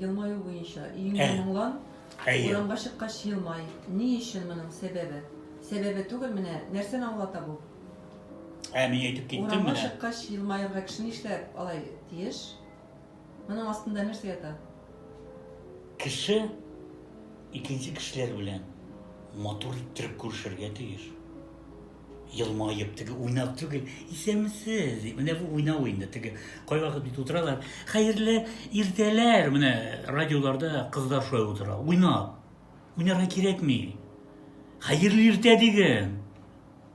Елмаю буенча өеңә Ә. моңлан, Әйе. урамга чыккач елмай. Ни өчен моның сәбәбе? Сәбәбе түгел, менә нәрсәне аңлата бу? Ә мин әйтеп киттем Урамга менә. чыккач елмаерга кеше нишләп алай тиеш? Моның астында нәрсә ята? Кеше икенче кешеләр белән матур иттереп күрешергә тиеш. Елмаеп, теге уйнау түгел, исәнмесез, дип, менә бу уйнау инде, теге кайвакыт бит утыралар, хәерле иртәләр, менә радиоларда кызлар шулай утыра, уйнап, уйнарга кирәкми, хәерле иртә диген,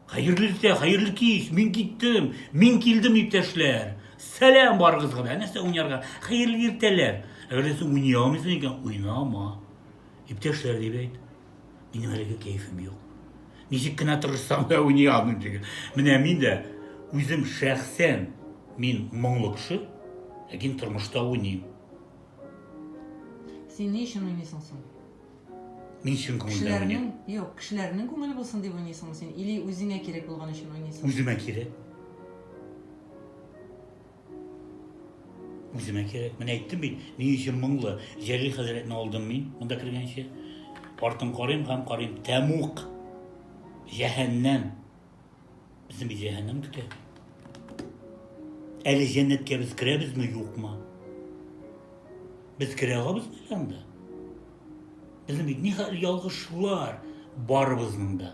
хәерле иртә, хәерле кич, мин киттем, мин килдем, иптәшләр, сәлам барыгызга да, нәрсә уйнарга, хәерле иртәләр, әгәр дә син уйный алмыйсың икән, уйнама, иптәшләр дип әйт. Минем әлеге кәефем юк. Ничек кенә тырышсам да уйный алмыйм диген. Менә мин дә үзем шәхсән мин моңлы кеше, ләкин тормышта уйныйм. Син ни өчен уйныйсың соң? Мин чын күңелдән уйныйм. Юк, кешеләрнең күңеле булсын дип уйныйсыңмы син? Или үзеңә кирәк булган өчен уйныйсың? Үземә кирәк. Үземә кирәк. Менә әйттем бит, ни өчен моңлы. Җәлил хәзрәтне алдым мин монда кергәнче. Артын карыйм һәм карыйм. Тәмук. Җәһәннәм. Безне бит җәһәннәм көтә. Әле җәннәткә без керәбезме, юкмы? Без керә алабызмы анда? Безнең бит нихәл ялгышлар барыбызның да.